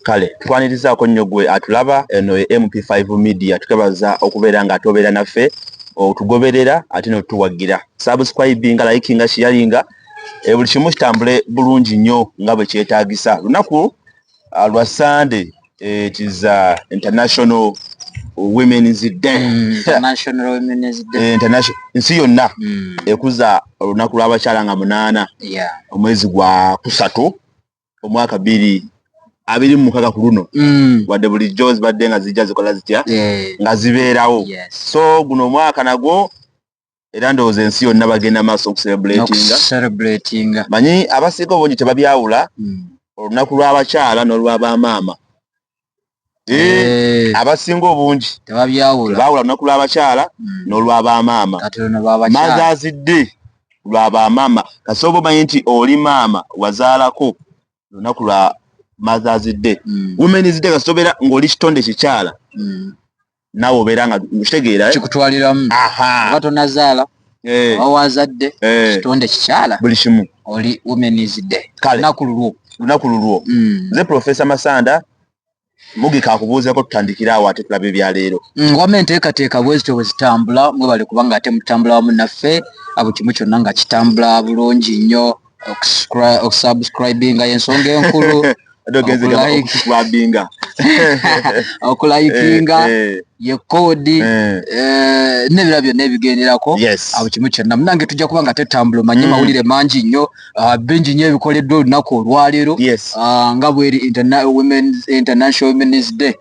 kale tukwanirizaako nnyo gwe atulaba eno e mp5 media tukebaza okubeera nga atobeera naffe otugoberera ate notutuwagira subscribinga likinga shiyalinga e buli kimu kitambule bulungi nnyo nga bwe kyetagisa lunaku ah, lwa sande Eh, it is uh, international women's day mm, international women's day eh, international nsi yonna mm. ekuza olunaku lw'abakyala nga munaana omwezi gwa kusatu omwaka biri abiri mu mukaga ku luno mm. wadde bulijjo zibadde nga zijja zikola zitya nga zibeerawo so guno omwaka nagwo era ndowooza ensi yonna bagenda maaso okuserebulatinga manyi abasiika obungi tebabyawula hmm. olunaku lw'abakyala n'olwabamaama eh, eh. abasinga obungi tebabyawula olunaku lw'abakyala hmm. n'olwabamaama mazazidde lwabamaama kasooba omanyi nti oli maama wazaalako olunaku lwa mazazidde hmm. womenizidde kasitobeera ng'oli kitonde kikyala naawe obeera nga okitegeera eh? kikutwaliramu oba tonazaala eh. oba wazadde eh. kitonde kikyala buli kimu oli womenizde lunaku lulwo lunaku lulwo hmm. nze profesa masanda mugika akubuuzeko tutandikira awo ate tulaba ebyaleero hmm, wama enteekateeka bwezityo bwe zitambula mwebale kubanga ate mutambula wamu naffe abo kimu kyonna nga kitambula bulungi nnyo okusubscribinga yensonga enkulu okulayikibinga okulayikinga eh, eh. ye koodi eh. nebira byonna ebigenderako abo kimu kyonna munange tujja kuba nga tetambula omanye mm. mawulire mangi nnyo ah, bingi nnyo ebikoleddwa olunaku olwaleero ah, nga bweri international womens day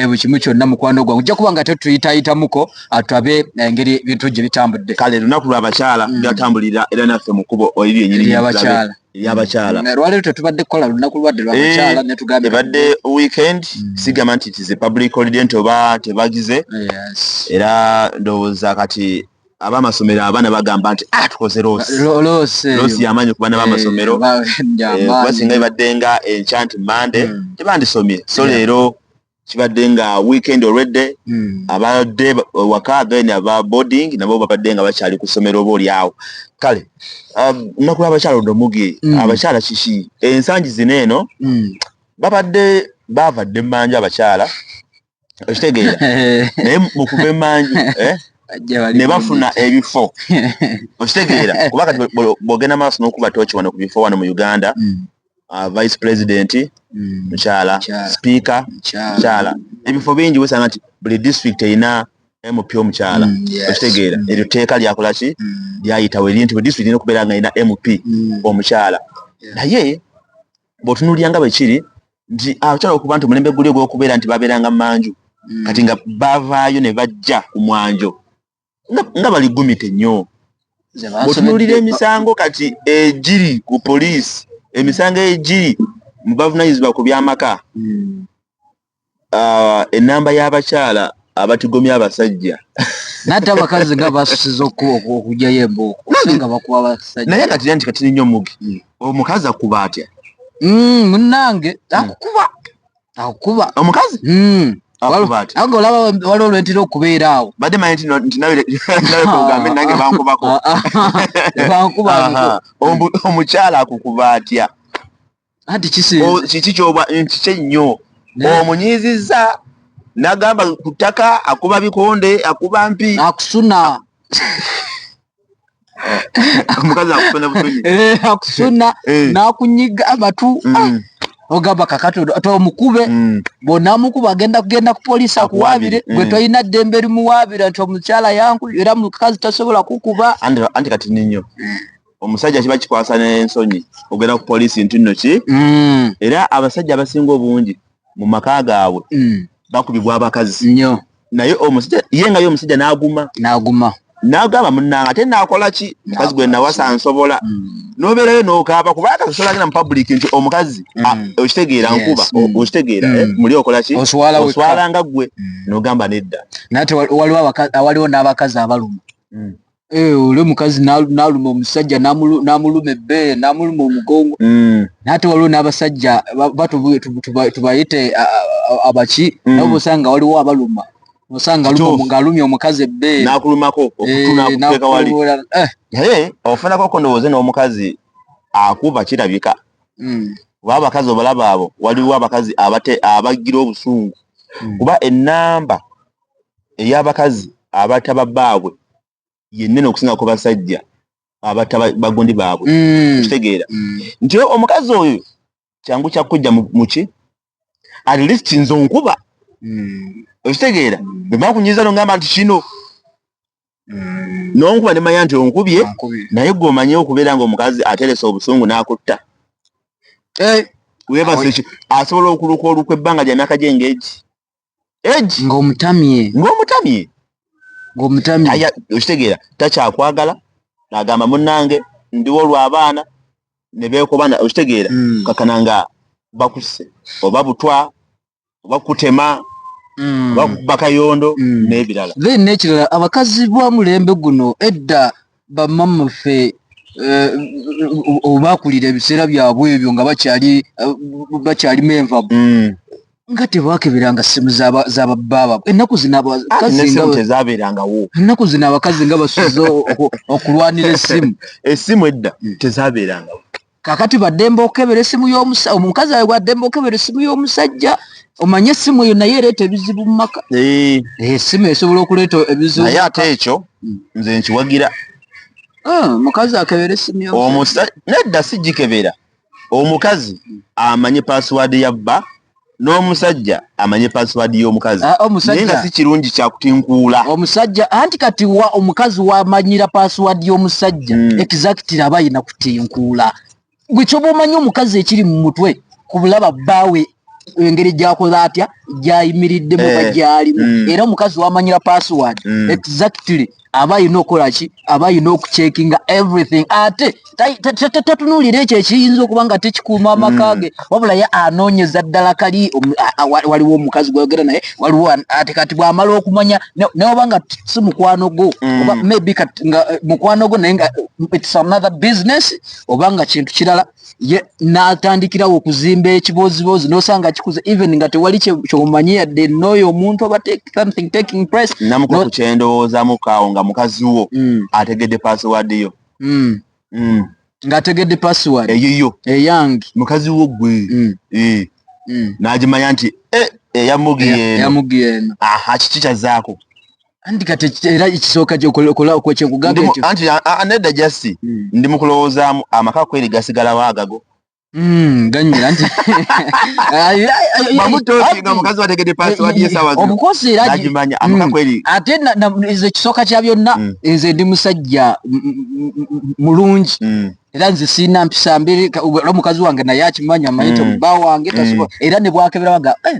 buli kimu kyonna mukwano gwange ojja kuba nga tetuyitayitamuko atulabe eh, engeri bintu gye bitambudde kale lunaku lwa bakyala mm. byatambulira era naffe mu kubo oliri enyini yabakyala yabakyala mm. lwaleero tetubadde kukola lunaku lwadde lwabakyala eh, netugambye ebadde weekend mm. sigamba nti tize public holiday nti oba tebagize era ndowooza kati abamasomero abaana bagamba nti ah, tukoze loosi yamaanyi ku baana bamasomero eh, kuba singa ibadde nga enkya nti mande tebandisomye so leero kibadde nga weekend olwedde hmm. abadde waka then aba boarding nabo babadde nga bakyali ku ssomero oba oli awo kale um, nnaku lw'abakyala odomugi hmm. abakyala kiki ensangi zino eno hmm. babadde baavadde mmanju abakyala okitegeera naye mukuva emmanju eh? ne bafuna ebifo okitegeera kuba kati bwogenda maaso n'okuba tooki wano ku bifo wano mu uganda uh, vice president mm. mukyala speaker mukyala ebifo bingi wesanga nti buli district erina mp omukyala mm, okitegeera mm. eryo tteeka lyakola ki mm. lyayitawo eri nti budistrict erina okubeera nga erina mp omukyala naye bwotunuulira nga bwe kiri nti abakyala okuba nti omulembe guli ogw'okubeera nti babeeranga manju kati nga bavaayo ne bajja ku mwanjo nga bali gumite nnyo bwetunulira emisango kati egiri ku poliisi emisango egiri mu bavunanyizibwa ku byamaka hmm. ah, enamba y'abakyala abatigomya abasajja nate abakazi nga basusiza okujayo embooknaye kati nti katiri nnyo mugi hmm. omukazi akuba atya hmm, munange akukuba akukuba omukazi hmm. ago olaba waliwo lwentera okubeera awo badde manyi nti nawe kogambe nange bankubako bankuba omukyala akukuba atya anti kiki kyoba nti kyennyo omunyiizizza nagamba ku ttaka akuba bikonde akuba mpi akusuna omukazi akusuna busuni eh, akusuna eh. nakunyiga amatu mm. ah. ogamba kakati tomukube mm. bwonamukuba agenda kugenda ku polisi akuwabire eh. gwe tolina ddembe erimuwabira nti omukyala yanku era mukazi tasobola kukuba anti kati ninyo omusajja kiba kikwasa nensonyi ogenda ku polisi nti nno ki mm. era abasajja abasinga obungi mu maka gaabwe bakubibwa abakazi nyo naye omusajja ye nga ye omusajja n'aguma n'aguma n'agamba munnanga ate naakola ki mukazi gwe nawasa nsobola mm. n'obeerayo n'okaaba kuba akasosola agenda mu public nti omukazi mm. okitegeera nkuba mm. okitegeera eh, muli okola ki oswala nga ggwe n'ogamba nedda naye waliwo n'abakazi abaluma Eh, olwo mukazi naluma omusajja namuluma ebbeere namuluma omugongo mm. naate waliwo n'abasajja tubayite abaki mm. nabo bosanga waliwo abaluma osanga ng'alumya omukazi ebbeere nakulumako okutunakuteekawali eh, eh. ofunako kondowooze n'omukazi akuba kirabika mm. kuba abakazi obalaba abo waliwo abakazi abate abagira obusungu kuba enamba ey'abakazi abata babbaabwe yennene okusinga ku basajja abata bagundi baabwe mm. okitegeera mm. nti omukazi oyo kyangu kyakujja muki at least nze onkuba mm. okitegeera bwemala kunyiza no ngamba nti kino nonkuba nemanya nti onkubye naye gwe omanye okubeera nga omukazi ateresa obusungu n'akutta eh, webaseki asobola okuluka olukwa ebbanga lya myaka gyengegi egi ng'omutamye ng'omutamye ng'omutamye okitegeera takyakwagala agamba munange ndiwo olw'abaana ne beekobana okitegeera mm. kakana nga bakuse oba butwa oba kutema mm. oba bakayondo mm. n'ebirala then n'ekirala abakazi bwa mulembe guno edda bamama ffe Eh, obakulira ebiseera byabwe ebyo nga bakyali eh, bakyali menvabu mm. nga tebakebiranga simu zabababa enaku zinaenaku ah, zina abakazi nga basuze okulwanira esimu esimu edda hmm. tezaberanga kakati bademba okebera esimu yomusa omukazi awe wademba okebera esimu yomusajja omanye esimu eyo naye ereeta ebizibu mumaka eh. eh, esimu esobola okuleeta ebizibu naye ate ekyo hmm. nze nkiwagira ah, omukazi akebera esimu nedda sigikebera omukazi amanye password ya bba n'omusajja amanye password y'omukazi ah, naye nga si kirungi kyakutinkuula omusajja anti kati wa omukazi wamanyira password y'omusajja mm. exactly aba yina kutinkuula gwe kyoba omanyi omukazi ekiri mu mutwe ku bulaba bbaawe engeri gyakoze atya gyayimiriddemu oba eh, gyalimu mm. era omukazi wamanyira password mm. exactly aba alina okukola ki aba alina okucekinga everything ate tatunulira ekyo ekiyinza okuba nga tekikuuma amaka mm. ge wabula ye anoonyeza ddala kali waliwo omukazi gweyogera naye waliwo ate kati bwamala okumanya neoba nga si mukwano gwo oba maybe nga eh, mukwano gwo naye nga it's another business oba nga kintu kirala natandikirawo okuzimba ekiboziboozi nosanga kikuze even nga tewali kyomanyi yadde nooyo omuntu oba something taking place namuka ku kyendowoozamukawo nga mukazi wo mm. ategedde password yo mm. Mm. nga ategedde password eyiyo eyange mukazi wo gwe e. nagimanya nti eh, eyamugi eno kiki kyazaako anti kati era ekisooka kyokola okwekyekugamba ekyo anti anedda jasi hmm. ndi mu kulowoozaamu amaka kweri gasigalawo agago hmm, ganyira nti obukoseeragimanya amaka hmm. kweri ate nze ekisooka kya byonna nze ndi musajja mulungi era nze siina mpisa mbiri omukazi wange naye akimanya amayita muba wange tasobola era ne bwakeberawaga eh,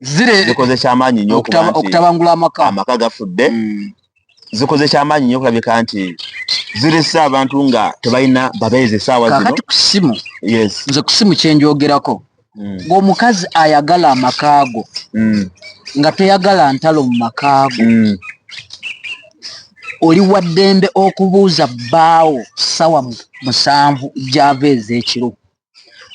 zire zikoze kyamaanyi nnyo okutabangula amaka amaka gafudde hmm. zikoze kyamaanyi nnyo okulabika nti zirese abantu nga tebalina babeezi esaawa zinokati ku simu nze ku simu kyenjogerako hmm. ng'omukazi ayagala amakaago hmm. nga toyagala ntalo mu makaago oli waddembe okubuuza bbaawo sawa musanvu gyava ez'ekiro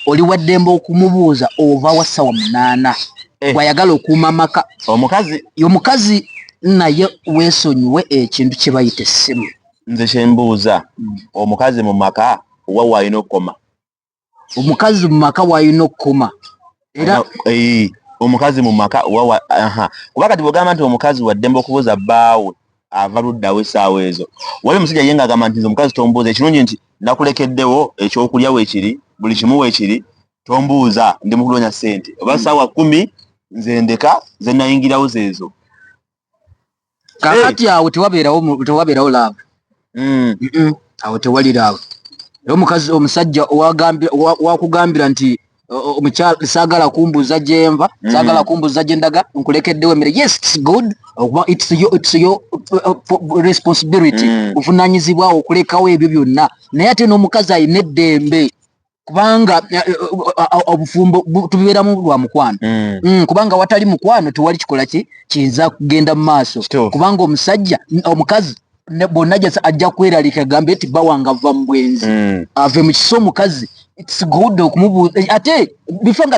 oli waddembe okumubuuza ova wa ssawa munaana eh. gwayagala okuuma amaka omukazi omukazi naye wesonyiwe ekintu kye bayita essimu nze kyembuuza hmm. omukazi mu maka wa waalina okukoma omukazi mu maka waalina okukoma era eh omukazi mu maka wawa aha kuba kati bogamba nti omukazi wa dembo kubuza baawe ava luddawo esaawa ezo wali musajja yenga agamba nti omukazi tombuuza ekirungi nti nakulekeddewo ekyokulya wekiri buli kimu wekiri tombuuza ndi mukunonya sente oba hmm. saawa kumi nze ndeka zenayingirawo zezo kakati awo tewabeerawo tewabeerawo laavu mm. awo tewali laavu era omukazi omusajja wakugambira nti omukyala saagala kumbuuza gyenva mm. saagala kumbuuza gyendaga nkulekeddewo emere yes its good okuba its yo its yo uh, responsibility mm. buvunanyizibwawo okulekawo ebyo byonna naye ate n'omukazi alina eddembe kubanga eh, eh, eh, obufumbo tubeeramu lwa mukwano mm. Mm, kubanga watali mukwano tewali kikola ki kiyinza kugenda mu maaso kubanga omusajja omukazi bonna jasa ajja kweralika gambe nti bawanga va mu bwenzi mm. ave mu kisa omukazi ate bifa nga